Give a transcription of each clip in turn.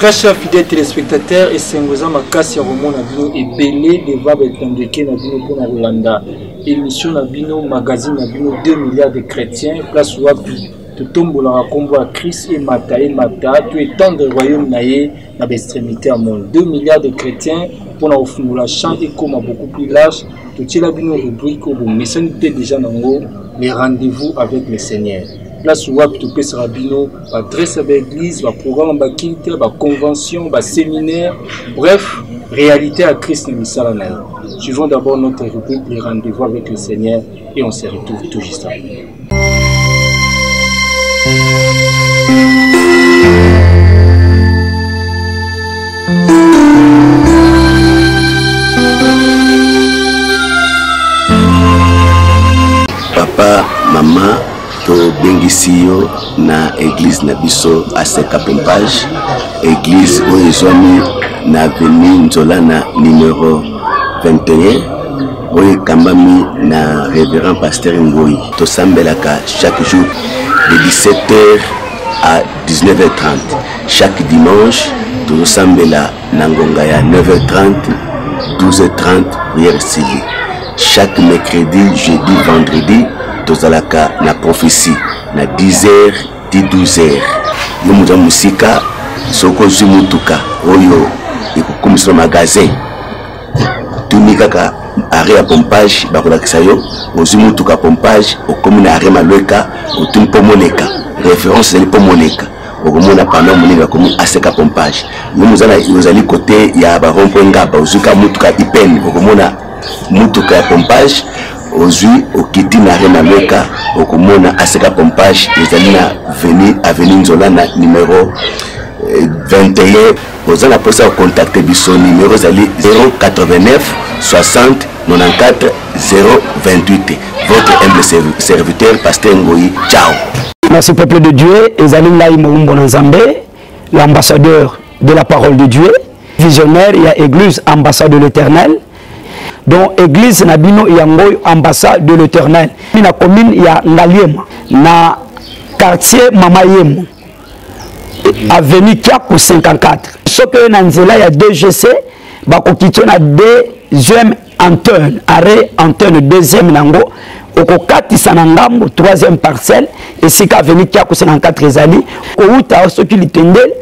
Très chers fidèles téléspectateurs, esengo eza makasi ya komona bino ebele deva baetandeke na bino mpo na kolanda émission na bino magazine na bino 2 milliards de chrétiens place wapi totombolaka nkombo ya Christ emata emata to etendre royaume na ye na ba extremité ya monde 2 milliards de chrétiens mpo na kofungola champ ekoma beaucoup plus large totiela bino rubrique oyo bomesani mpe deja na yango le rendez-vous avec le seigneur place wapi topesaka bino baadresse ya baeglise baprogramme ya bakilte baconvention baséminaire bref réalité ya christ na misala na ye suivons d'abord notre rubrique le rendez-vous avec le seigneur et on se retrouve tout juste après papa mama tobengisi yo na eglise na biso aseka pompage eglise oyo ezwami na avenue nzolana numero 21 oyo ekambami na révérend pasteur ngoi tosambelaka chaque jour de 17h à 19h30 chaque dimanche tozosambela na ngonga ya 9h30 12h30 prière sili chaque mercredi jeudi vendredi tozalaka na prophétie na 10h ti 12h yo moza mosika soki ozwi motuka oyo ekokumisama magasin tuni kaka arret ya pompage bakolakisa yo ozwi motuka pompage okomi na arret malweka otuni mpo moleka référence ezali mpo moleka okomona pano monene bakomi aseka pompage yo mozala ozali kote ya barond mpo engaba ozwi ka motuka ipene okomona motuka ya pompage ozwi okiti na arret malweka okomona aseka pompage ezali na veni aveni nzola na numero 21 eh, oza na posa ya contacte biso numero ezali 089 60 94 028 votre humble serviteur pasteur ngoi ciao merci peuple de dieu ezali ngai moumbo na nzambe l'ambassadeur de la parole de dieu visionnaire ya église ambassade de l'éternel donc église na bino yango oyo ambassade de l'éternel na commune ya ngaliema na quartier mama yemo avenue kiaku 54 soki oye na nzela ya dgc bakokitio na deuxième antenne arrêt antenne deuxième nango okokatisa na ngambo troisième parcelle esika avenue kiaku 54 ezali kowuta soki litendele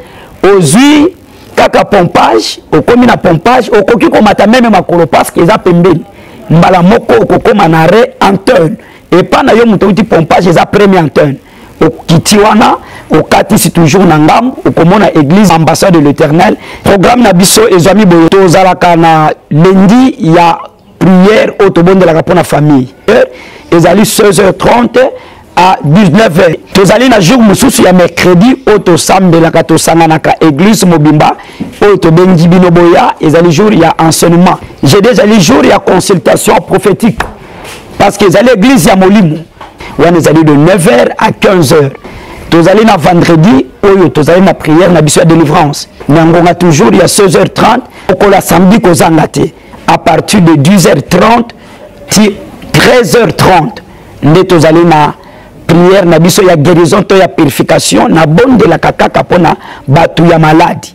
ozwi kaka pompage okomi na pompage okoki komata meme makolo parce que eza pembeni mbala moko okokoma na re anterne epai na yo moto outi pompage eza premier anterne okiti wana okatisi toujours na ngambo okomona église ambassade de l'éternel programme na biso ezwami boye tozalaka na lendi ya prière oyo tobondelaka mpo na famille ezali 16h30 à 19h tozali na jour mosusu ya mercredi oyo tosambelaka tosanganaka église mobimba oyo tobengi bino boya ezali jour ya enseignement jeudi ezali jour ya consultation prophétique parce que ezali église ya molimo wana ezali de 9h à 15h tozali na vendredi oyo tozali na prière na biso ya délivrance na ngonga toujours ya 16h30 okola samedi kozanga te à partir de 10h30 ti 13h30 nde tozali na prière na biso ya guérison to ya purification nabondelaka kaka mpo na bato ya maladi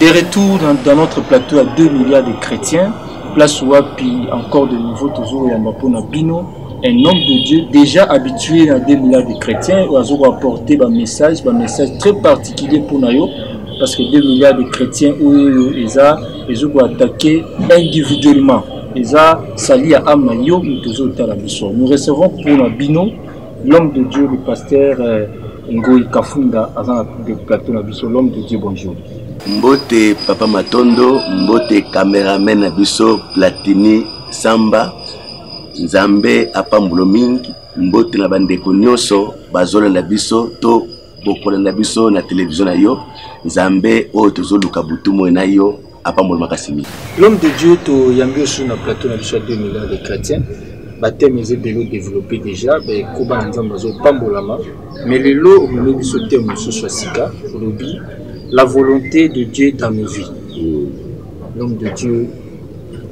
De retour dans, dans notre plateau à 2 milliards de chrétiens, place wapi encore de nouveau toujours ya mapona bino un homme de Dieu déjà habitué à 2 milliards de chrétiens oyo apporter ba message ba message très particulier pour nayo parce que 2 milliards de chrétiens oyo eza ezoki attaquer individuellement eza sali ya ame na yo moto ozotala biso nous recevons mpona bino L'homme de Dieu, le pasteur euh, Ngoy Kafunda, aza na plateau na biso. L'homme de Dieu, bonjour. Mbote Papa Matondo, mbote cameraman na biso Platini Samba. Nzambe apambulo mingi, mbote na bandeko nyonso bazolanda biso to bokolanda biso na televizio na yo. Nzambe oyo tozoluka butu moi na yo apambola makasi mingi l'homme de dieu toyambi osu na plateau na biso ya 2 milliards de chrétiens bateme eza ebele odeveloppe déjà bakoba na nzambe bazopambolama mais lelo omemi biso te mosusu ya sika olobi la volonté de dieu dans nos vies mm. l'homme de dieu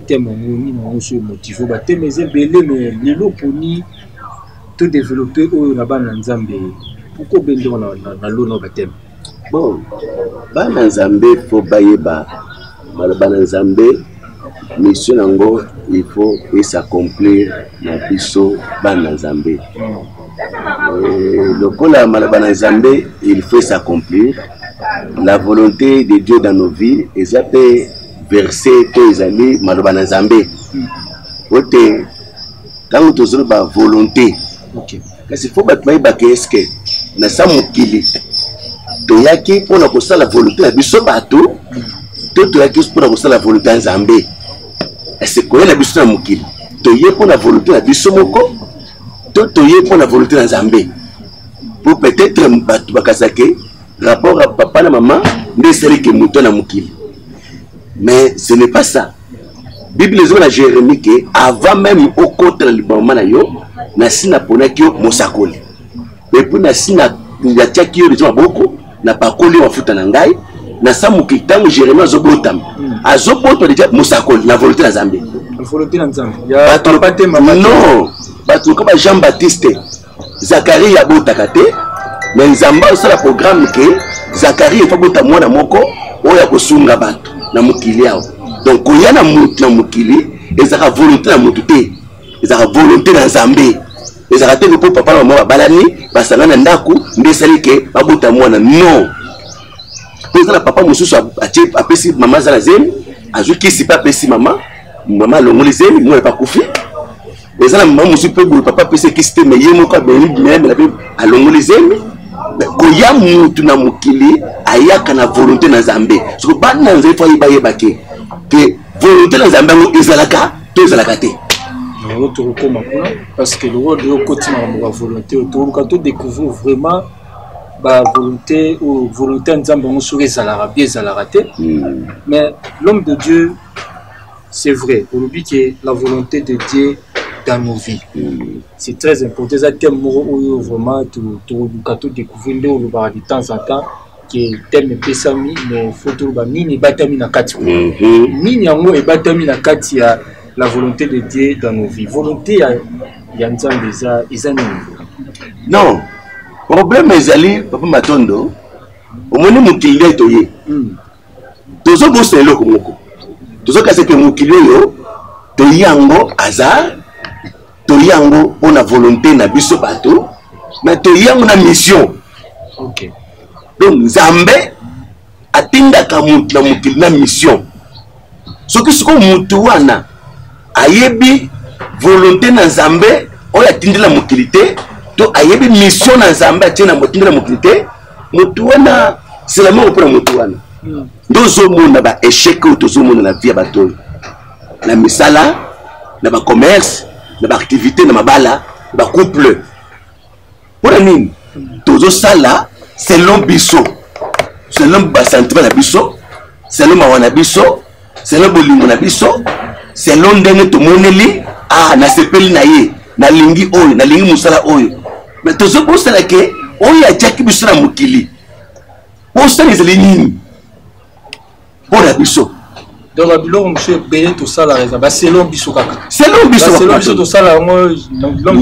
teme yango nini yango so emotive bateme eza ebele mais lelo oponi todeveloppe oyo na bana na nzambe pourkoi obendoko na lona bateme Bon, bana Nzambe fo bayeba maloba na Nzambe mission nango il faut esakomplir na biso bana Nzambe. Euh, lokola maloba na Nzambe il faut esakomplir la volonté de Dieu dans nos vies eza mpe verse to ezali maloba na Nzambe. Oyo te ntango tozoloba volonté okay. kasi fo bato bayebaka eske na sa mokili toyaki mpo na kosala volonté ya biso bato to toyaki mpo na kosala volonté ya nzambe ese koya na biso na mokili toye mpo na volonté na biso moko to toye mpo na volonté na nzambe mpo peut-être bato bakazake rapport ya papa na mama nde esaliki moto na mokili mais ce n'est pas ça biblia ezoba na jérémie ke avant meme okota na libangama na yo nasi naponaki yo mosakoli epui nasi natiaki yo lizo maboko napakoli yo mafuta na ngai nasa moki ntango jérémie azobotama hmm. azobotwa deja mosakoli na volonté na nzambe non bato lokola ba jean baptiste Zakarie abotaka te me nzambe asala programme ke zakarie efa bota mwana moko oyo akosunga bato na mokili awa donc koya na motu na mokili ezalaka volonté na motu te ezalaka volonté na nzambe ezalaka te mpo papa na mama babalani basanga na ndako nde esali ke babota mwana non mpo eza na papa mosusu apesi mama aza na zemi azwi kisi mpe apesi mama mama alongoli zemi mwana mpe akufi eza na mama mosusu mpe boye papa apesi ekisi te me ye moko abelibimeyamela mpe alongoli zemi koya mutu na mokili ayaka na volonté na nzambe soko bana na nzambe fo ayeba yebake ke volonté na nzambe yango ezalaka to ezalaka te yango tokokoma kuna parce que lokola deyo okoti makambo ya volonté oyo toluka to découvrir vraiment bavolonté oyo volonté ya nzambe yango soki ezalaka mpe ezalaka te hmm. mais l'homme de dieu c'est vrai olobi ke la volonté de dieu dans nos vies mm. c'est très important eza thème moko oyo vraiment toluka todécouvrir nde olobaka de temps en temps ke thème epesami mais faut toloba nini ebatami na kati mm-hmm. nini yango ebatami na kati ya la volonté de dieu dans nos vies volonté ya, ya nzambe eza eza nini non problème ezali papa matondo omoni mokili nde toye mm. tozobosana eloko moko tozokasa ke mokili oyo toyi yango aza toyi yango mpo na volonté na biso bato na toyi yango na mission okay. donc nzambe atindaka moto na mokili na mission soki sikoyo motu wana ayebi volonté na nzambe oyo atindela mokili te to ayebi mission na nzambe atie na motindela mokili te motu wana selama kopona motu wana hmm. nde ozomona ba échec oyo tozomona na vie ya bato oyo na misala na bacommerce na baactivité na mabala na bacouple mpo na nini hmm. tozosala selon biso selon basentiment na biso selon mawa na biso selo bolingo na biso selo ndenge tomoneli ah, nasepeli na ye nalingi oyo nalingi mosala oyo me tozobosana ke oyo atyaki biso na mokili bosana ezali nini mpo na biso donc babiloko mosusu ebele tosalaka eza baselo biso kaka selo biso tosala yango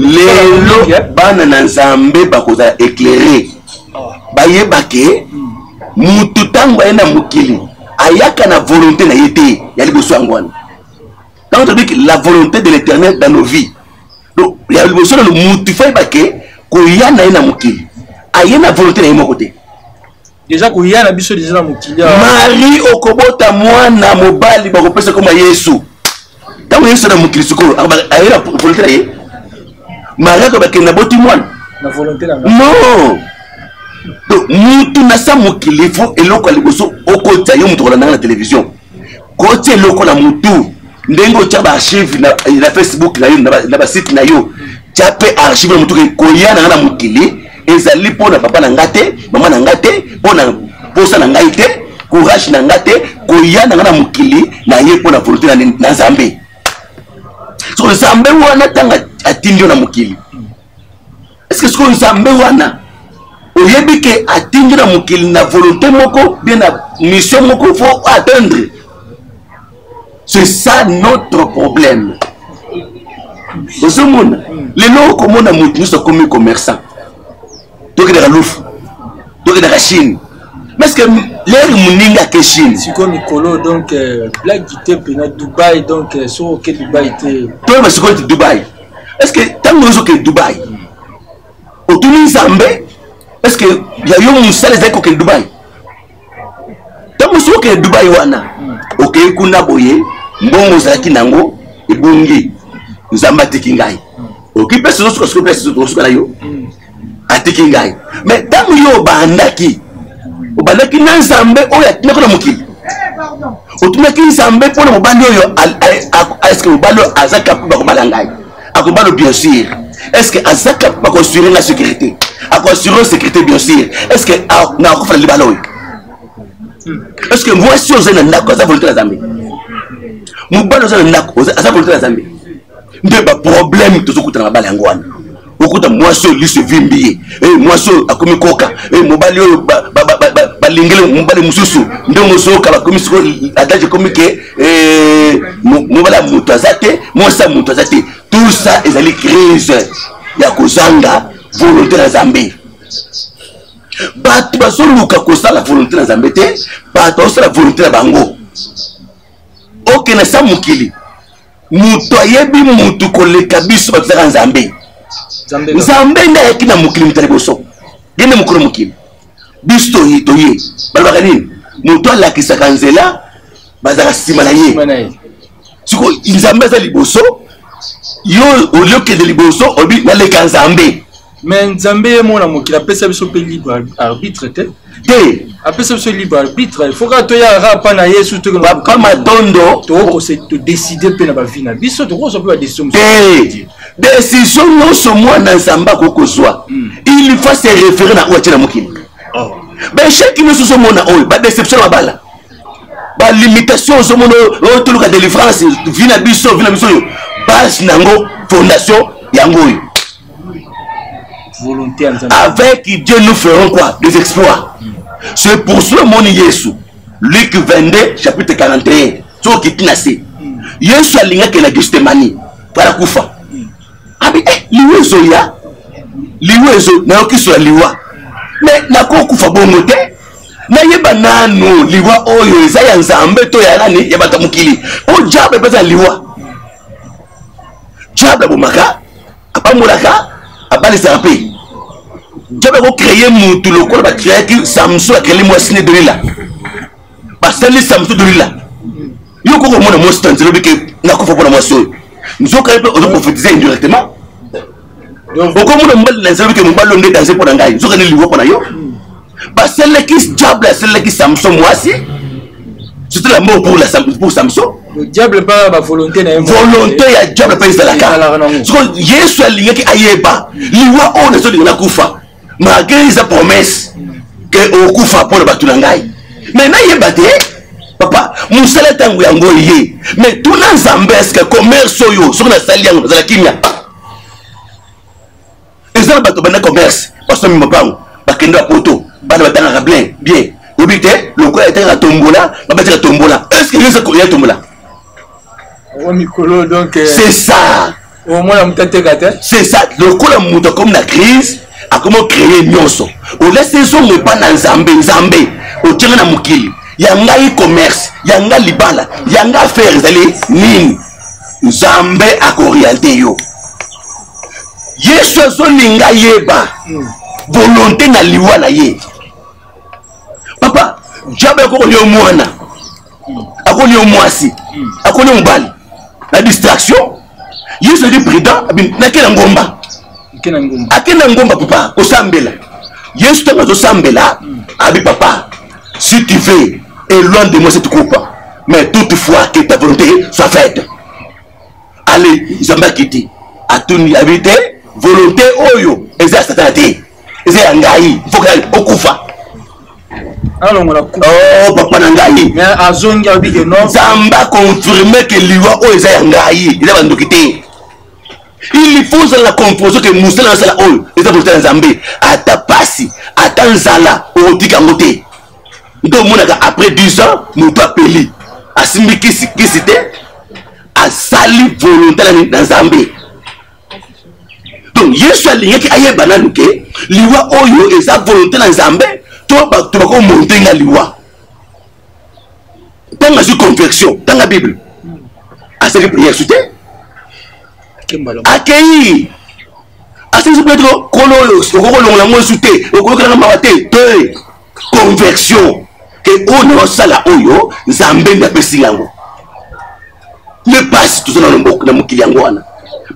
lelo bana na nzambe bakozala éclaire ah. bayebake motu hmm. ntango aye na mokili ayaka na volonté na ye te ya liboso yango wana ntango tobiki la volonté de l'éternel dans nos vies donc ya liboso nano mutu fai bake koya na ye na mokili aye na volonté na ye moko te deja koya na biso deja na mokili marie okobota mwana mobali bakopesa koma yesu ntango yesu na mokili sikoyo aye na volonté na ye mariaka bakende na boti mwana non donc mutu na sa mokili fo eloko ya liboso okotisa yo moto kolandanga na télévision kotya eloko na motu ndenge otya baarchive na, na facebook na yo na basite na yo tya mpe archive na motu koya na nga na mokili ezali mpo na papa na nga te mama na nga te mpo na mposa na ngai te courage na nga te koya na nga na mokili na ye mpo na volonté na nzambe soko nzambe wana ntango atindi yo na mokili eske soko nzambe wana oyebi ke atindi na mokili na volonté moko bie na mission moko fo atteindre c'est ça notre problème ozomona lelo okomona moto nyonso akomi commerçant tokendaka lufu tokendaka chine parceke lere moninga ake chine sikoyo mikolo donc euh, blague te mpena dubai donc euh, soki oke dubai te toyeba sikoyo ti dubai estce ntango ozoke dubai otuni nzambe estce ya yo mosala ezali kokende dubai ntango mosusu okende dubai wana okei kuna boye mbongo ozalaki na yango ebongi nzambe atiki ngai oki mpe sozosuka soki mpe okosuka na yo atiki ngai me ntango yo obandaki obandaki na nzambe oyo atinaki na mokili otunaki nzambe mpo na mobali oyo eske mobali oyo aza kapo bakobala ngai akobalo bien sûr est ce que azaka bakoassure la sécurité akoassure sécurité bien sûr est ce que ah, na akufa na libala oyo est ce que mwasi oyo ozali na ndako aza volonté na zambe mobali oza na ndako aza volonté na zambe nde baproblème tozokutana na bala yango wana okuta mwasi oyo liso evimbi ye eh, mwasi oyo akomi koka eh, mobali oyo balingeli mobali mosusu ndenge ozoyoka bakomi sikoyo adage ekomi ke mobali ya moto aza te mwasi ya moto aza te tout ça ezali crise ya kozanga volonté na nzambe bato bazoluka kosala volonté na nzambe te bato bazosala volonté na bango okende sa mokili moto ayebi motu koleka biso bato ezaka nzambe nzambe nde ayaki na mokili moto ya liboso ye nde mokolo mokili biso toye toye balobaka nini moto alakisaka nzela bazalaka nsima na ye siko nzambe aza liboso yo olie okende liboso obi naleka nzambe me nzambe ye mona mokili apesa biso mpe libre arbitre te te apesa biso libre arbitre il faut kaka toyaka pa na yesu topapa matondo tokokose todeside mpe na bavi na biso tokozwa mpe badeside te decision nyonso mwana nzambe akoki kozwa hmm. il faut se référer na oyo atie na mokili oh. baecheki nyonso ozomona oyo badeception na bala balimitation ozomona oyo toluka délivrance vi na biso vi na biso oyo base na yango fondation yango oyo avec dieu nous ferons quoi des exploits hmm. c'est pour cela omoni yesu luc 22 chapitre 41 soki okiti na se hmm. yesu alingaki na gestemanie mpona kufa abi eh, liwa ezoya liwa ezo nayoki so ya liwa me nakokufa bongo te nayeba nanu liwa oyo eza ya nzambe to ya nani ya bato ya mokili mpo diable mpeza liwa diable abomaka apambolaka abalisaka mpe diable akocreye motu lokola bakreaki samson akreeli mwasi ne dolila basali samson dolila yo koko mona mwasi ta nzela obike nakufa mpona mwasi oyo nzoka ye mpe ozo profetize indirectement okomona mobali na nzela obike mobali oyo nde danze mpo na ngai nzoka nde liwa mpo na yo basalelaki diable asalelaki samson mwasi surtout la mort pour, la, pour samson diable mpe bavolonté na ye volonté ya diable mpe ezalaka sikoyo yesu alingaki ayeba liwa oyo nazolinga nakufa malgre eza promesse ke okufa mpo na bato na ngai me nayeba te papa mosala ntango yango eye me tuna nzambe eske commerce oyo soki nasali yango nazala kimia eza na bato banda commerce basomi mapango bakende bapoto bana batangaka bien bien oyebi te lokola etangaka tombola babataka tombola eske yo eza tombola Euh, c'est ça omona moto ateka te c'est ça lokola moto akomi na crise akomi ocreye nyonso olesi ezongo epa na nzambe nzambe otyanga na mokili ya ngai commerce ya ngai libala ya ngai affaire ezali nini nzambe akoriente yo yesu azolinga yeba hmm. volonté na liwa na ye papa diable akokolia mwana akoni yo mwasi akoni yo mobali na distraction yesu azali prudent nakela ngomba akenda ngomba papa kosambela yesu ntango azosambela abi papa si tu veux éloigne de moi cette coupe mais toutefois que ta volonté soit faite ale nzambe akiti atuni abi te volonté oyo eza ya satana te eza ya ngai mpoka okufa alongola oh, papa na ngai azongi alobi ke non zamba confirme ke liwa oyo eza ya ngai eza bandoki te il faut ozala na comproso ke mosala nasala oyo eza volonté na nzambe ata pasi ata nzala okotika yango te nde omonaka après 10 ans moto apeli asimbi kisi kisi te asali volonté na nzambe donc yesu alingaki ayeba nanu ke liwa oyo eza volonté na nzambe to bato bakomonte nga liwa ntango azwi conversion tanga bible asali prière su te akei asali su petro kolo oyo okokolongola ngo esu te okoyokelanga mawa te te conversion ke oyo na osala oyo nzambe nde apesi yango nde mpasi toza na lomboka na mokili yango wana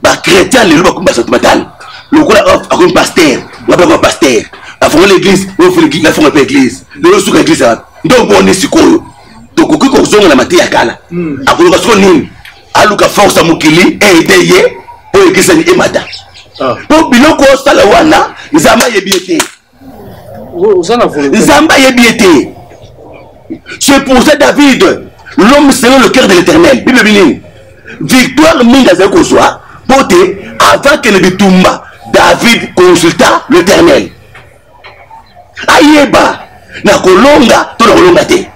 bachrétien lelo bakomi basato matano lokola akomi paster wapi akoma paster afongoli église afonga mpe église lelo suka église wapi nde oboni sikoyo tokoki kozonga na mateya kala hmm. akoloka siko nini aluka force ya mokili eede eh, ye oyo ekisani emata ah. mpo biloko osala wana nzambe ayebi ye te nzambe ayebi ye te c'est pour ça david l'homme selon le cœur de l'éternel bible ebi nini victoire mingi azali kozwa mpo te avant kende bitumba david consulta l'éternel ayeba na kolonga to na kolonga te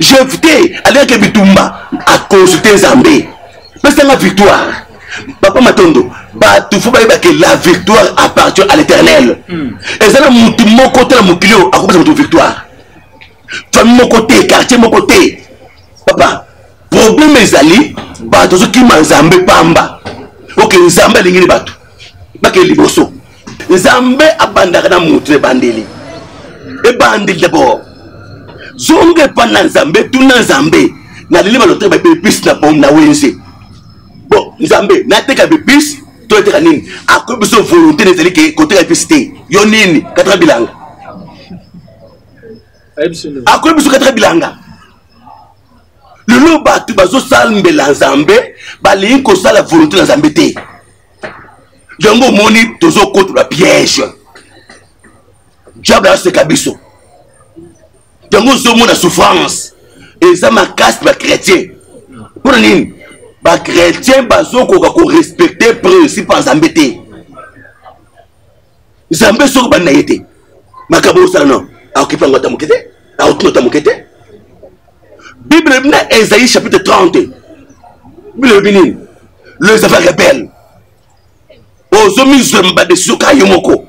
jefte alingaki bitumba aconsulte nzambe pesanga victoire papa matondo bato fo bayeba ke la victoire appartient à l'éternel hmm. eza na motu moko te na mokili oyo akopesa moto victoire famille moko te quartier moko te papa problème ezali bato azokima nzambe pamba oke nzambe alingi ni bato bakei liboso nzambe abandaka na motu na ebandeli ebandeli dabord zonga epai na nzambe tuna nzambe naleli balotre baepepisi na wenze bon nzambe nateka bepise to eteka nini akoyi biso volonté na ezali ke koteka episi te yo nini kataka bilanga akoyi biso kataka bilanga lelo bato bazosambela nzambe balingi kosala volonté na nzambe te yango omoni tozokotola piège diable aseka biso yango ozomona souffrance eza makasi ba chrétien mpo na nini ba chrétien bazokoka korespecte principe ya nzambe te nzambe soki bandi na ye te makambo osala no akokipa yango ata moke te akotuna ata moke te bible elobi na esaïe chapitre 30 bible elobi nini les affaires rebelles ozomizwema badesizio ka yo moko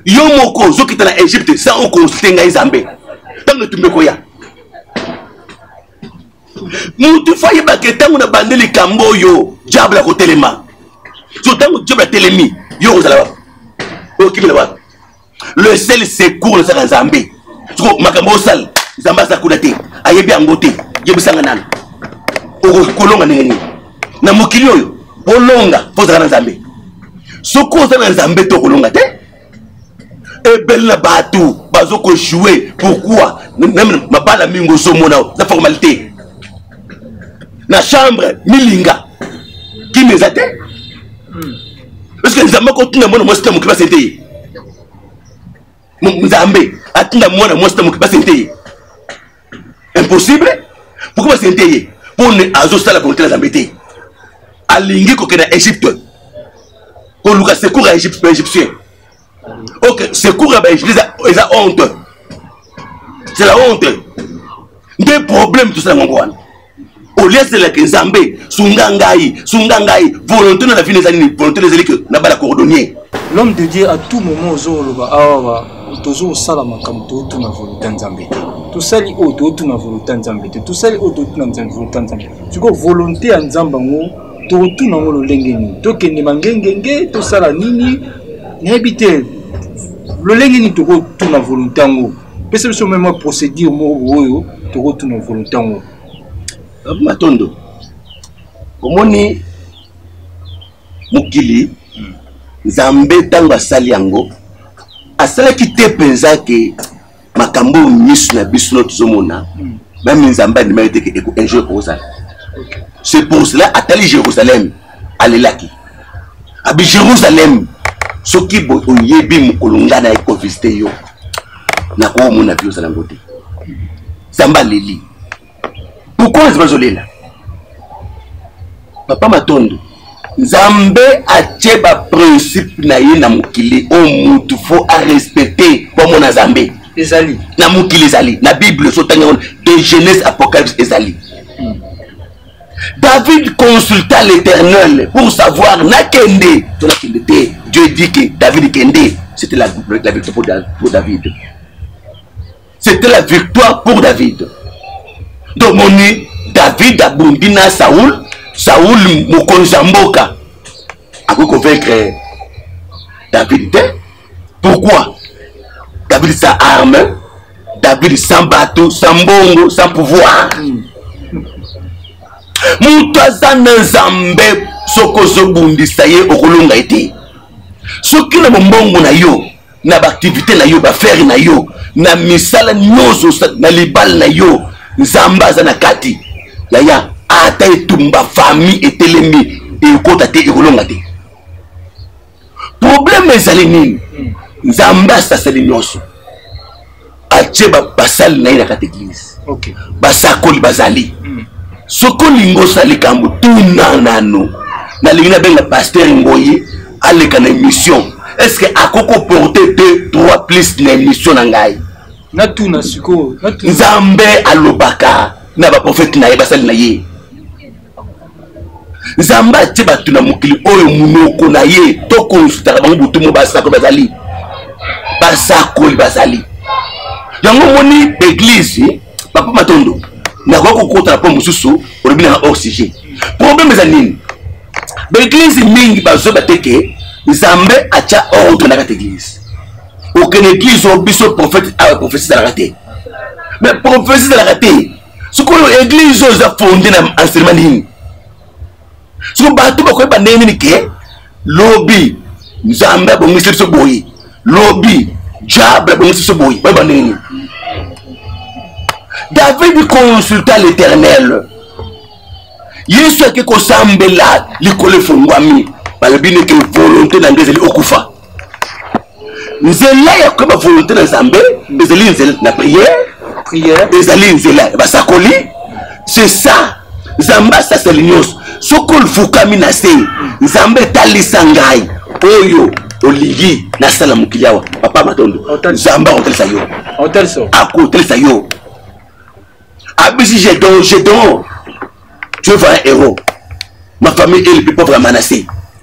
yo moko ozokita na egypte sa okonsulte ngai zambe ntango etumba ekoya motu fo ayebaka ntango na bande likambo oyo diable akotelema so ntango diable atelemi yo okozala wapi okimela wapi le seul secours ezaka nzambe soko makambo osala nzambe aza kuna te ayebi yango te yebisanga nani okoki kolonga ndenge nini na mokili oyo olonga mpo ozala na nzambe soki oza na nzambe te okolonga te ebele na bato bazo kojoue pourkui meme mabala mingi ozomona za formalité na chambre milinga kimi eza te hmm. parce que nzambe akotinda mwana mwasi na mokili basi te ye nzambe atinda mwana mwasi na mokili basi te ye impossible pourkui basi te ye mpo ne azosala volonté na nzambe te alingi kokenda egypte koluka secour ya egyptien ok secours ya baegli eza honte c'est la honte nde problème tosala yango wana olie azelaki nzambe sunga ngai sunga ngai volonté na la vie ezali nini volonté ezali ke nabala cordonnier l'homme de dieu à tout moment ozoloba awa tozo kosala makambo tootuna volonté ya nzambe te tosali oyo tootuna volonté ya nzambe te tosali oyo tootuna volonté ya nzambe sikoyo volonté ya nzambe yango tokotuna yango lolenge nini tokende mangengenge tosala nini nayebi te lolenge nini tokotuna volonté yango pesa biso meme procédure moko oyo tokotuna volonté yango matondo omoni mokili nzambe ntango asali yango asalaki te mpenza ke makambo oyo miso na biso no tozomona hmm. meme nzambe andimaki te ke un jour ekozala c'est pour cela atali jérusalem alelaki abi jérusalem soki boye oyebi mokolo ngai na ekovisite yo nakoomona vi ozala yango te nzambe aleli tokozi bazolela papa matondo nzambe atye baprincipe na ye na mokili oyo mutu fo arespecte po amona nzambe ezali na mokili ezali na bible ozotanga yango de genèse apocalypse ezali hmm. david consulta l'éternel pour savoir nakende to nakende te dieu dit que david kende c'était la, la victoire pour, pour david c'était la victoire pour david tomoni david abundi na saul saul mokonzi ya mboka akoki kovaincre david te pourquoi david sa arme david sans bato sans mbongo sans pouvoir moto aza na nzambe soki ozobundisa ye okolonga ye te soki na bombongo na yo na baaktivité na yo baaffaire na yo na misala nyonso na libala na yo nzambe aza na kati yaya ata etumba famille etelemi ekota te ekolonga te problème ezali nini nzambe asaseli nyonso atie basali na ye na kati eglise basakoli bazali hmm. soki olingi osala likambo tuna nano nalingi nabenga paster ngoyi aleka na émission est ce que akoki koporte deux trois plus na émission na ngai natuna sikoyo nzambe alobaka na baprofete na ye basali na ye nzambe atie bato na mokili oyo monoko na ye to konsultaka bango butu mo basakoli bazali basakoli bazali yango omoni eglize papa matondo nakoki kokota na mpo mosusu olobi nanga hors sujet problème eza nini baeglize mingi bazoba te ke nzambe atya ordre na kati eglize okende eglize oyo biso prophète awa prophesie ezalaka te mais prophesie ezalaka te sikoyo eglise oyo eza fonde na enseignement nini siko bato bakoyeba ndenge nini ke lobi nzambe abongisi biso boye lobi diable abongisi biso boye bayeba ndenge nini david consulta l'éternel yesu ake kosambela likolo efongwami balobi neke volonté na ngai ezali okufa nzela ya koyeba volonté na nzambe ezali nzela na prière ezali nzela ya basakoli c'est ça nzambe asaseli nyonso soki olfukami na se nzambe etalisa ngai oyo olingi nasala mokili awa papa matondo nzambe akotalisa yo akotalisa yo abisi jedon jedon tu es vrai héros ma famille est le plus pauvre ya manase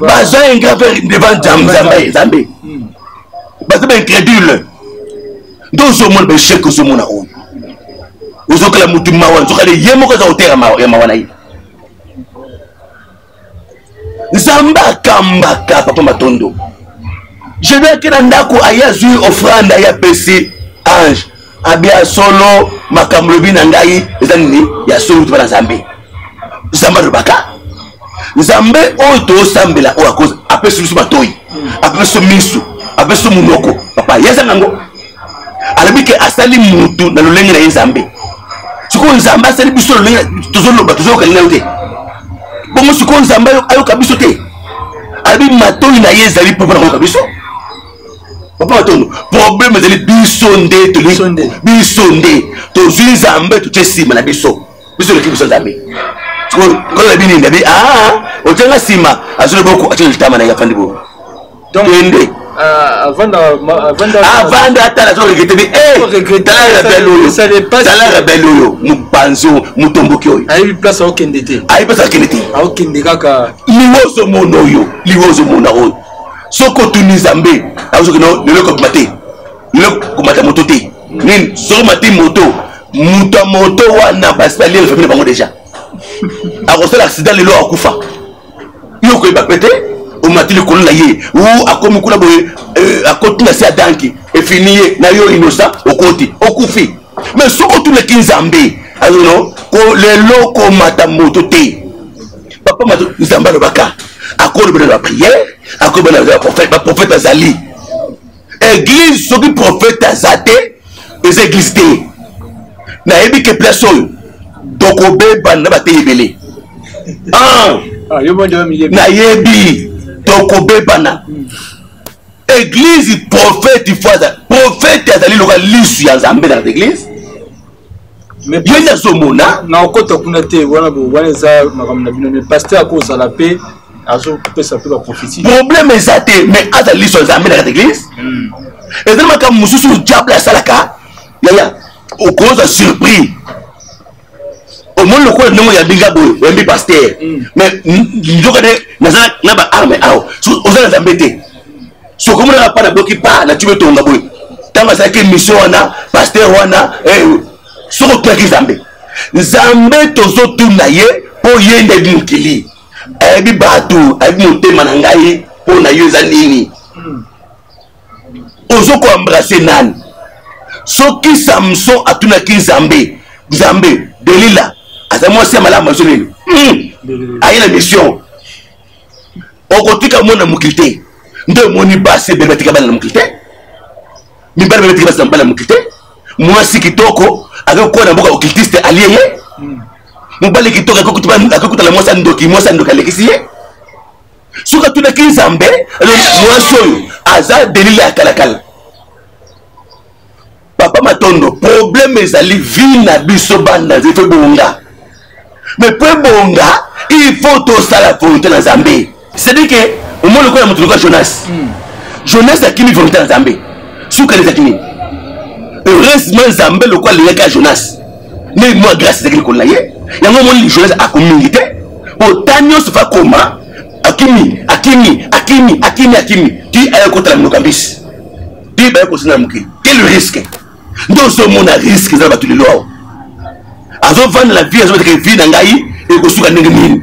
baza ingrat devant nzambe nzambe hmm. baza baincrédule nde ozomona baechec ozomona oyo ozokela motu mawa nzokale ye moko aza koteya ya mawa na ye nzambe akambaka papa matondo je dois ke na ndako aye azwi ofrande aye apesi ange abi ya solo makambo lobi na ngai eza nini ya solo tuba na nzambe nzambe alobaka nzambe oyo tosambela oyo akozi apesi biso matoi apesi biso misu apesi biso monoko papa ye aza nango alobi ke asali mutu na lolenge na ye nzambe sikoyo nzambe asali biso lolenge tozoloba tozoyokani nayo te bongo sikoyo nzambe ayoka biso te alobi matoi na ye ezali mpo mpo na koyoka biso papa matondo problème ezali biso nde tolingi biso nde tozwi nzambe totye nsima na biso biso eleki biso nzambe kolola bini ndabi aa otyanga nsima azwi na boko atye litama na ye afandi boko kende avanda ata nazo regrete bi tala rebele oyo tala rebele oyo mopanzi oyo motomboki oyo ayebi place akokende te ayebi place akende te akokende kaka liwozo mona oyo liwozo mona oyo soki otuni nzambe akosoki no lelo ekobima te lelo komata moto te nini soki omati moto moto ya moto wana basi baliela famille na bango deja akosala accident lelo akufa yo okoyeba pe te omati likolo na ye u akomi kuna boye euh, akoti na se adanki efini ye na yo inosa okoti okufi mais soki otunaki nzambe azono lelo komata moto te papa mato nzambe alobaka akolobela na bapriere akolobela na baprofete baprofete azali eglise soki profete aza te eza eglise te nayebi ke place oyo tokobeba na bateyi ebele ah, ah, nayebi tokobebana eglise profete ifo aza profete azali lokola lisu ya nzambe na eglise ye nazomona na okota kuna te wana wana eza makambo na bino me paster akozala mpe azopesa mpe baprofesi problème eza te mais aza liso nzambe na kati eglise hmm. eza makambo mosusu diable asalaka yaya okozwa surprise omoni lokola ndenge oyambi nga boye oyambi paster mm. mais nzoka nde naza na baarme awa oza na nzambe te soki omonaka mpa naboki mpa na tube tonga boye ntango asalaki émission wana paster wana eh, soki otuyaki nzambe nzambe tozotuna ye mpo ye nde ayebi mokili ayebi bato ayebi motema na ngai mpo na yo eza nini mm. ozo ko embrasser nani soki samson atunaki nzambe nzambe delila aza mwasi ya malamu azo nini hmm. aye na mission okotika mwana mokili te nde omoni basi ebele batika bana na mokili te mibali bebe batika basi na mobali na mokili te mwasi kitoko akokola na mboka okiltiste alie ye hmm. mobali kitoko akokutana mwasi ya ndoki mwasi ya ndoki alekisi ye soki atunaki nzambe mwasi oyo aza delile ya kalakala papa matondo problème ezali vie na biso banda nzete ebonga mais mpo ebonga il faut tosala volonté na nzambe cestadire ke omoni lokola moto lokola jonas hmm. jonas akimi volonté na nzambe suka elezaki nini heureusement nzambe lokola alingaki ya jonas nde mwa grâce ezaki likolo na ye yango omoni lijonese akomingi te mpo ta nyonso fa koma akimi akimi akimi akimi akimi ti aye kotala monoko ya mbisi ti baye kosina na mokili quel risque nde ozomona risque eza na bato lelo awa azovandela vie azobeteke vie na ngai ekosuka ndenge nini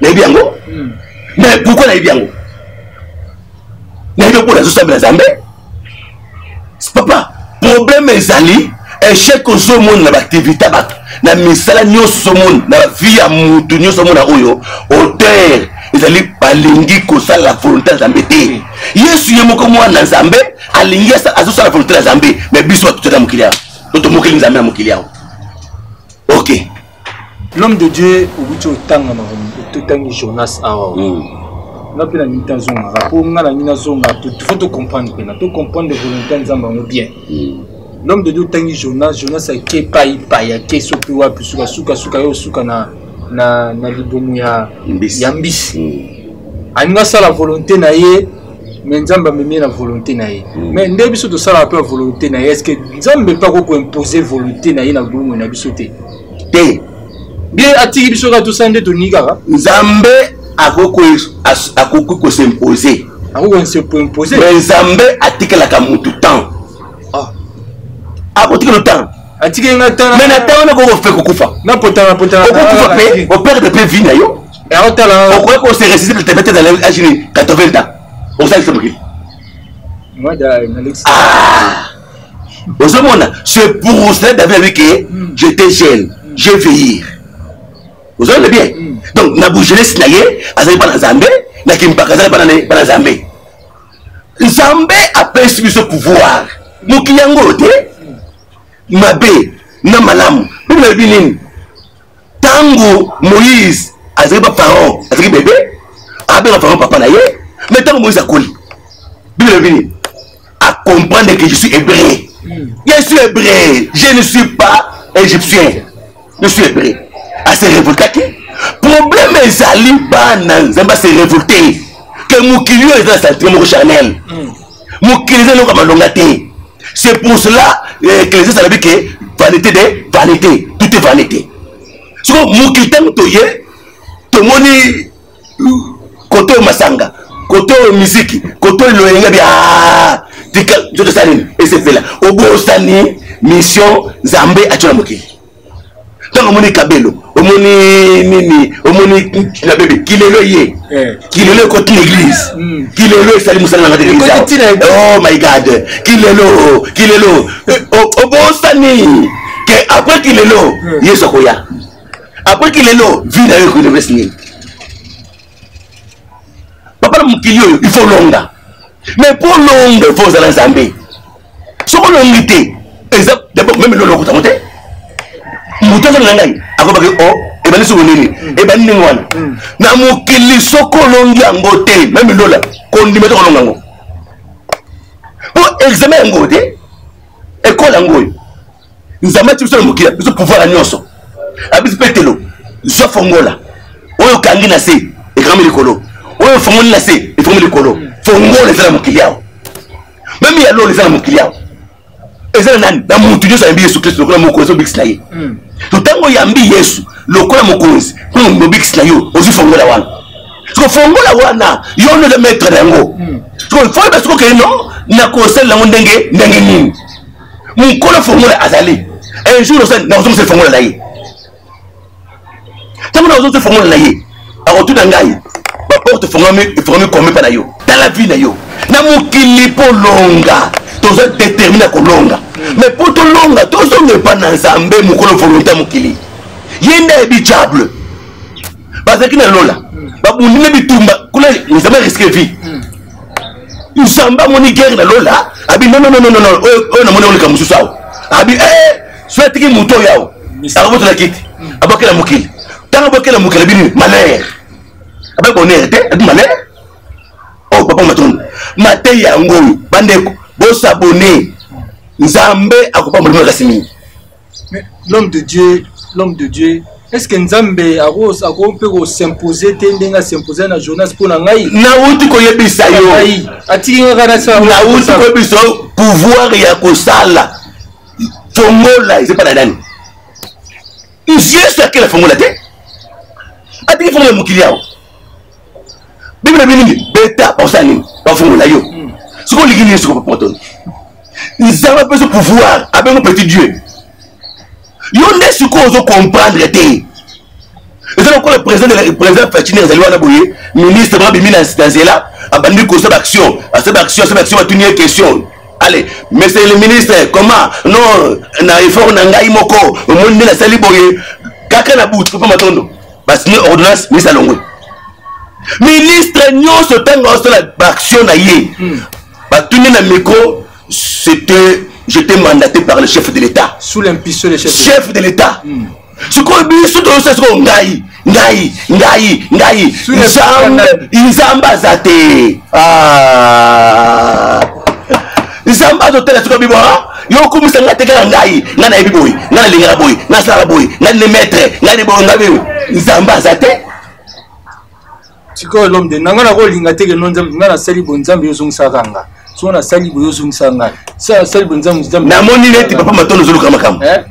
nayebi yango hmm. mais pourquoi nayebi yango nayebi mpo nazosambela nzambe papa problème ezali echec ozomona na baaktivité ya bato na misala nyonso ozomona na bavie ya motu nyonso omona oyo auteur ezali balingi kosala volonté ya nzambe te yesu ye moko mwana na nzambe alingi azosala volonté ya nzambe mais biso bato tozali na mokili yango to tomokeli nzambe na mokili yango ok l'homme de dieu okuti otanga makambo totangi jonas awa mm. nga mpe nalingi te azongaka mpo nga nalingi nazonga faut tocomprendre mpena tocomprendre volonté ya nzambe yango bien mm. l'homme de dieu otangi jonas jonas ake epai epai ake soki wapi sukasukasuka yo osuka na, na, na libumu ya mbisi, ya mbisi. Mm. alingi asala volonté na ye mais nzambe amemi na volonté na ye mm. mais nde biso tosalaka mpe ya volonté na ye est ce que nzambe mpe akoki koimpose volonté na ye na bomoi na biso te te bie atiki biso kaka tosala nde toningi kaka nzambe akoki kosimpose akokoimpose mais nzambe atikelaka motu temps ah. akotikela temps atiki nga temps mais na temps wana kokofe kokufa na potana potana okokufa mpe operdre mpe vie na yo aotala okoki ko se résister le tepete dans les âge 80 ans osalisa mokili ozomona c'est pour cela david abi ke j'étais jeune je veillir ozomona bien hmm. donc na bojeunesse na ye azali bana nzambe na kimpaka azali bana nzambe nzambe apesi biso pouvoir mokili yango oyo te mabe na malamu bino nayebi nini ntango moïse azalaki bapharaon azalaki bebe abenga pharaon papa na ye mai ntango moïse akoli biblia elobi nini acomprendre que je suis hébreu je suis hébreu je ne suis pas égyptien je suis hébreu ase révoltaki problème ezali bana nzambe ase révolte ke mokili oyo eza na santime moko charnel mm. mokili eza eloko ya malonga te c'est pour cela eh, ecclésias alobi ke vanité de vanité tout est vanité soko mokili ntango toye tomoni euh, kote oyo masanga kote oyo miziki kote oyo loyenga bia ah, tika nzoto esala nini esepela obosani mission nzambe atyo na mokili ntango omoni kabelo omoni nini omoni na bebe kilelo ye eh. kilelo ekoti na eglise hmm. kilelo esali mosala na ngati oh my god kilelo kilelo eh, obosani ke apres kilelo hmm. yesu akoya apres kilelo vi na yo ekoinevesi nini papa na mokili oyo il faut longa mais mpo longa il faut ozala nzambe soki olongi te eza dabord meme loloko tango te moto azali na ngai akobaki o oh, ebandi soko nini ebandi ndenge wana hmm. na mokili soki olongi yango te meme lola kondima te kolonga yango mpo examen yango te ekole yango oyo nzambe ati biso na mokili ya biso pouvoir ya nyonso abisi petelo zwa fongola oyo okangi na se ekangami likolo oyo ofongoli na se efongoli likolo fongola eza na mokili awa meme ya lola eza na mokili awa eza na nani na motu nyonso ayambi yesu kristo lokola mokonzi obikisi na ye hmm. to ntango oyambi yesu lokola mokonzi mpo mobikisi na yo ozwi fongola wana soko fongola wana yo nde oza maître na yango hmm. soko fo yeba soko okei no nakosalela yango ndenge ndenge nini mokolo fongola azali un jour nakozongisa lifongola na ye ntango nakozongisa lifongola na ye akotuna ngai baporte efongami kombe mpa na yo tala vi na yo na mokili mpo longa toza determine kolonga mais mpo tolonga tozonga epa na nzambe mokolo volonté ya mokili ye nde ayebi diable bazalaki na lola babundi na bitumba kuna nzambe riske vie nzambe amoni guerre na lola abi nonnononono oyo namoni oleka mosusu awa abi eh, so atiki moto oyo awa akobotona kiti abwakela mokili ntango abwakela mokili abi nini malere abai bonere te abi malere oyo oh, papa matondo mateyi yango oyo bandeko bosabone nzambe akopambola bino kasi mingi l'homme de dieu l'homme de dieu est ce que nzambe akoki mpe kosimpose te ndenge asimpose na jonas mpo na ngai nauti koyebisa yo atiki nga kaka nauti koyebisa yo pouvoir ya kosala fongola eza epa na nani yesu akela fongola te atiki fongola mokili awa bibele bilingi beta bakosala nini bafungola yo hmm. soki olingi nini soki bapotoni nzambe apesi pouvoir abengo petit dieu yo nde sikoyo ozo comprendre te eza lokola président fatine azali wana boye ministre babimi na nzela abandi kosala action asala action asala action batuni ye question allez monsieur le ministre comment non na effort na ngai moko omoni nde nasali boye kaka na butu papa matondo basigne ordonnance ministre alongwe ministre nyonso ntango asala baaction na ye hmm. batuni na micro c'était j'étais mandaté par le chef de l'état sous l'impulsion du chef de l'état hmm. sikoyo biso toyosa sikoyo ngai ngai ngai ngai nzambe aza te ah. nzambe azotala soki abibo yo okumisa ngai te kaka ngai ngai nayebi boye ngai nalingaka boye ngai nasalaka boye ngai nde maître ngai nde boye ngai boye nzambe aza te sikoyo elombe te na ngai nakolinga te keno nzambe ngai nasali boye nzambe yozongisaka nga soki nasali boye ozongisa ngai sala sali boye nzambe nzambe namoni neti papa matondo ozoluka makambo eh?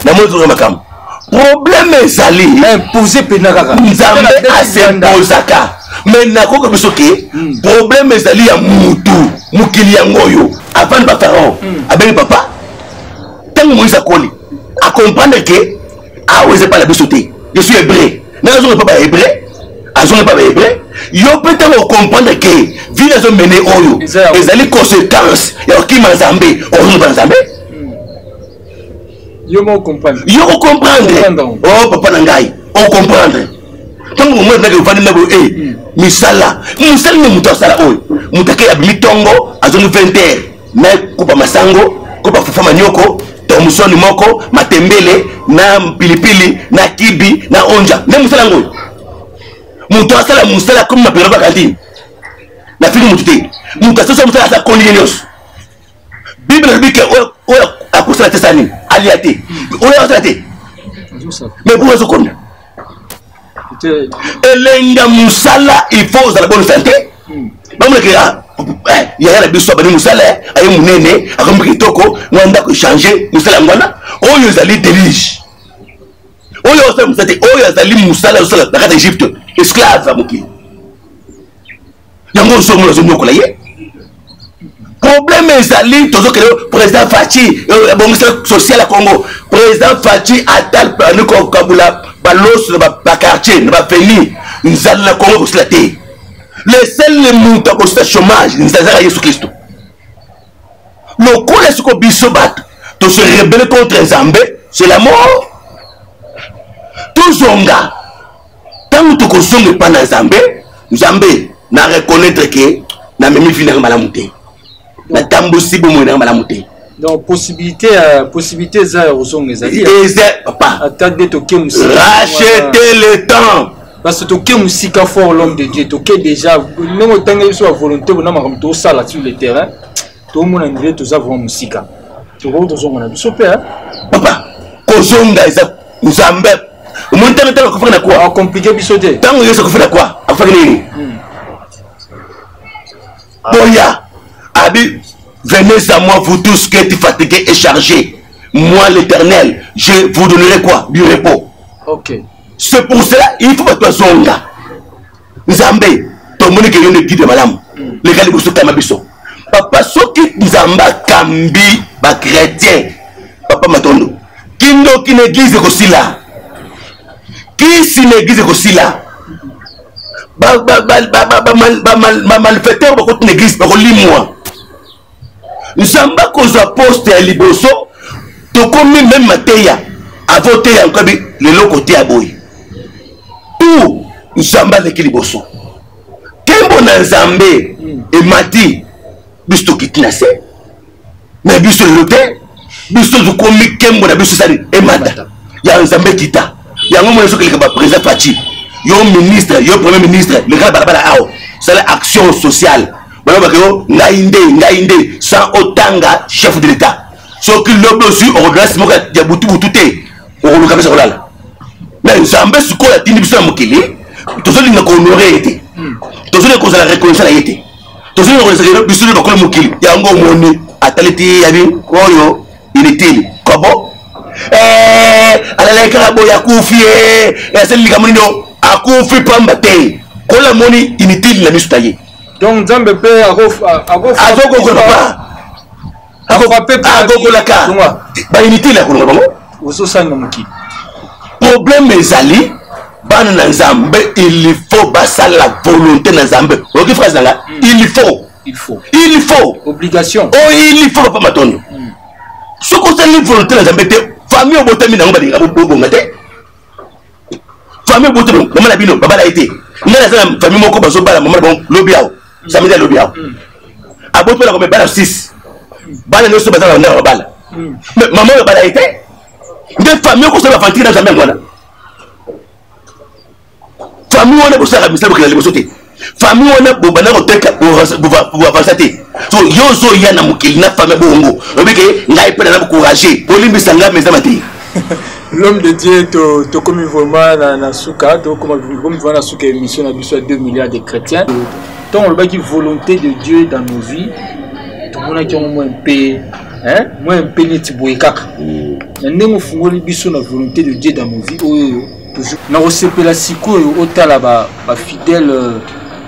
namoni toza makambo problème ezali impose mpena kaka nzambe asepozaka me nakoka biso ke hmm. problème ezali ya mutu mokili yango oyo avandi bapharaon hmm. abengi papa ntango moïse akoli acomprendre ke awa eza epai na biso te je suis hébreu ndenge azonga epai bahébreu azonga epai bahébreu yo mpe ntango ocomprendre ke vile azomene oyo ezali conséquence ya kokima nzambe ozonga epai na nzambe yo moko comprendre yo ko comprendre oh papa na ngai o comprendre ntango bomoi ezalaki ovandi ndako e misala mosali nde moto asala oyo moto ake abimi ntongo azongi 20 heure na kopa masango kopa fufa manioko tomsoni moko matembele na pilipili na kibi na onja nde mosala yango oyo moto asala mosala komi mapela bakantine nafiki moto te moto asosala mosala asa koli ye nyonso bible elobi ke oyo akosala te sala nini alia te oyo akosala te mais boka azokonda elenga mosala il faut ozala bonne santé hmm. bamonake ah, eh, yaya na biso abandi mosala eh, aye monene akomi kitoko mwa ndako echange mosala yango wana oyo ezali delige oyo osala mosala te oyo azali mosala osala na kati ya egypte esclave ya mokili yango ozomona ozonyokola ye problème ezali tozokende président faci ebongisa euh, social ya congo président faci atal ani kokabula baloso na baquartier na bafeli nzala na congo ekosila te le sele moto akosila chômage nzala ezaka yesu kristo lokola siko biso bato tose rebele contre nzambe c'est la mort tozonga ntango tokozonga epa na nzambe nzambe na reconnaître ke namemi vi nanga malamu te natambusi bomoi nanga malamu te donc possibilité ya possibilité eza ya kozonga ezali eza papa ata nde toke mosika racheter le temps parce que toke mosika fort l'homme de dieu toke déjà ndenge otanga biso ya volonté bona makambo tosala sur le terrain tomona ndire toza vrima mosika tokoki tozonga na biso mpe papa kozonga eza nzambe omoni ntango ntango akofaki na kwa akomplike biso te ntango yesu akofaki na kwa akofaki nini hmm. boya abi venez à moi vous tous qui êtes fatigués et chargés moi l'éternel je vous donnerai quoi du repos okay. c'est pour cela il faut bato bazonga nzambe tomoni ke yo nde guide malamu leka liboso kama biso papa soki nzambe akambi bachrétien papa matondo kindoki na eglize ekosila kisi na eglize ekosila bamalfaiteur bakoti na eglize bakolimwa nzambe akozwa poste ya liboso tokomi meme mateya avoteya nkabi lelo koteya boye tu nzambe aleki liboso nkembo na nzambe emati biso tokiti na se me biso lelo te biso tokomi kembo na biso esali emata ya nzambe kita yango mona soki eleka baprésident faci yo ministre yo premier ministre lekaka balabala awa sala action sociale balobaka yo ngai nde ngai nde sans otanga chef de l'état soki lobi ozwi okoglasi moko ya butubutu te okoluka mpesa kolala me nzambe sikoyo atindi biso na mokili tozolinga kohonore ye te tozolinga kozala reconnaissant na ye te tozali nakolesakela biso nde bakolo mokili yango omoni atali ti yabi oyo inutile kobo eh, alalaki kaka boye akufi eh, eh, asali likambo nini akufi pamba te kola moni inutile na miso na ye donc nzambe mpe azokokola papa akokolaka bainitele ya kolonga bango ozosanga mokili probleme ezali bana na nzambe il faut basala volonté na nzambe oyoki phrase nanga hmm. il faut il faut il faut obligation o oh, il faut papa matondo hmm. soki osali volonté na nzambe te famille obotami nango balinga bobonga te famille bote mama na bino babala ye te ngai naza na famille moko bazobala mama na bango lobi awo samedi ya lobi awo aboti mpona komebala 6 bana nyonso baza na ndako babala mama oyo bala ye te nde famille okosala bafantiki na jambe yango wana famille wana ekosalaka misala bokenda liboso te famille wana bobanda koteka bovasa te so yo ozoya na mokili na famille bongo oyebi ke ngai mpe naza kourage olimbisa ngai meza mate l'homme de dieu tokomi to vraiment na, na suka tokomi vraiment na suka émission na biso ya 2 milliards de chrétiens ntango olobaki volonté de dieu dans nos vies tomonaki yango mwa mpe mwa mpe neti boye kaka na ndenge ofungoli biso na volonté de dieu dans nos vies oyo nakosepela sikoyo otala bafidèle ba euh,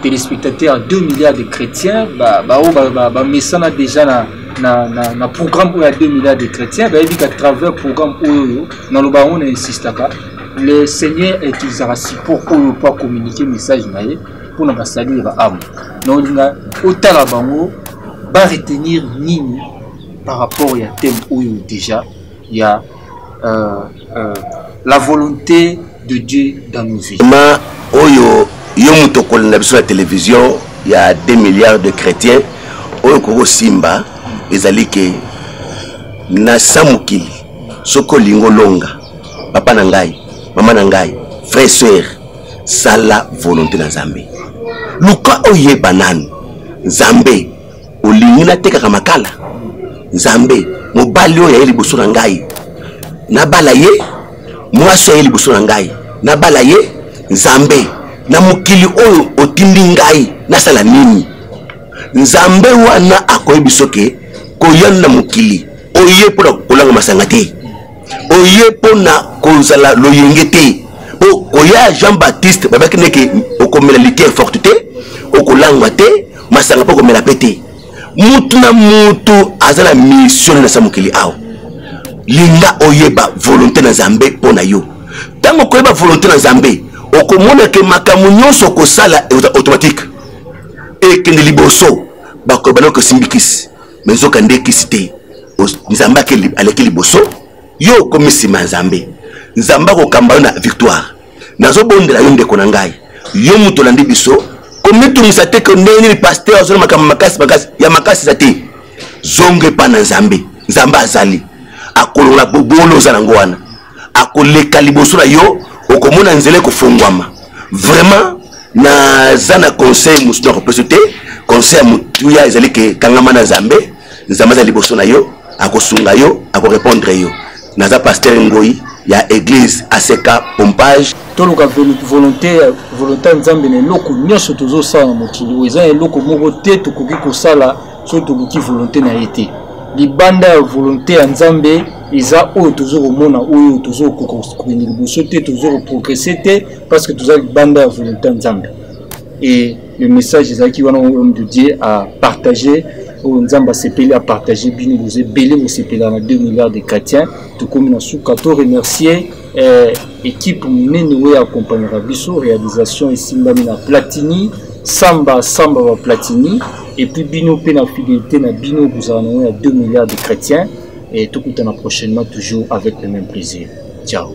téléspectateur 2 milliards de chrétiens baoyo ba, ba, ba, bamesana déjà na, na, na, na programme oyo ya 2 milliards de chrétiens bayebi ka travers programme oyo naloba yango na insistaka le seigneur utilisaka support oyo mpo acommunike message na ye mpo na basali ya baamo naolinga otala bango baretenir nini par rapport ya thème oyo déjà ya euh, euh, la volonté de dieu dans nos vies ma oyo yo moto okolanda biso na télévision ya 2 milliards de chrétiens oyo kokosimba ezali ke na sa mokili soki olingi olonga papa na ngai mama na ngai frère sœur sala volonté na nzambe luka oyeba nanu nzambe olingi natekaka makala nzambe mobali oyo aye liboso na ngai nabala ye mwasi aye liboso na ngai nabala ye nzambe na mokili oyo otindi ngai nasala nini nzambe wana akoyebi soki koya na mokili oye mpo na kolanga masanga te oye mpo na kozala loyenge te mpo koya jean baptiste babaki ndeke okomela litiere forte te okolangwa te masanga mpe komela mpe te mutu na mutu aza na mission na sa mokili awa linga oyeba volonté na nzambe mpo na yo ntango okoyeba volonté na nzambe okomona ke makambo nyonso okosala ekoza automatique ekende liboso bakoyeba noko esimbi kisi me nzoka nde kisi te nzambe aleki liboso yo okomi nsima ya nzambe nzambe akokamba yo na victoire nazobondela yo ndeko na ngai yo moto olandi biso komitungisa te ke ndenge nini paster azali makambo makasi makasi ya makasi eza te zonga epai na nzambe nzambe azali akolongola bobolo oza nango wana akoleka liboso na yo okomona nzela ekofongwama vraiment naza na conseil mosusu nakopesa te conseil ya motuya ezali ke kangama na nzambe nzambe aza liboso na yo akosunga yo akorepondre yo naza paster ngoi ya église aseka pompage toluka volonté volonté ya nzambe na eloko nyonso tozosala na mokili oyo eza na eloko moko te tokoki kosala soki toluki volonté na ye te libanda ya volonté ya nzambe eza oyo tozo komona oyo tozo kokende liboso te tozo koprogresse te parce que toza libanda ya volonté ya nzambe e le message ezalaki wana oyo homme de dieu a partage oyo nzambe asepeli a partage bino boza ebele bosepela na 2 milliards de chrétiens tokomi na suka to remercier eh, ekipe monene oyo eakompagnaka biso réalisation esimbami na platini samba samba ba platini epuis bino mpe na fidélité na bino kozala nango ya 2 milliards de chrétiens et tokutana prochainement toujours avec le même plaisir ciao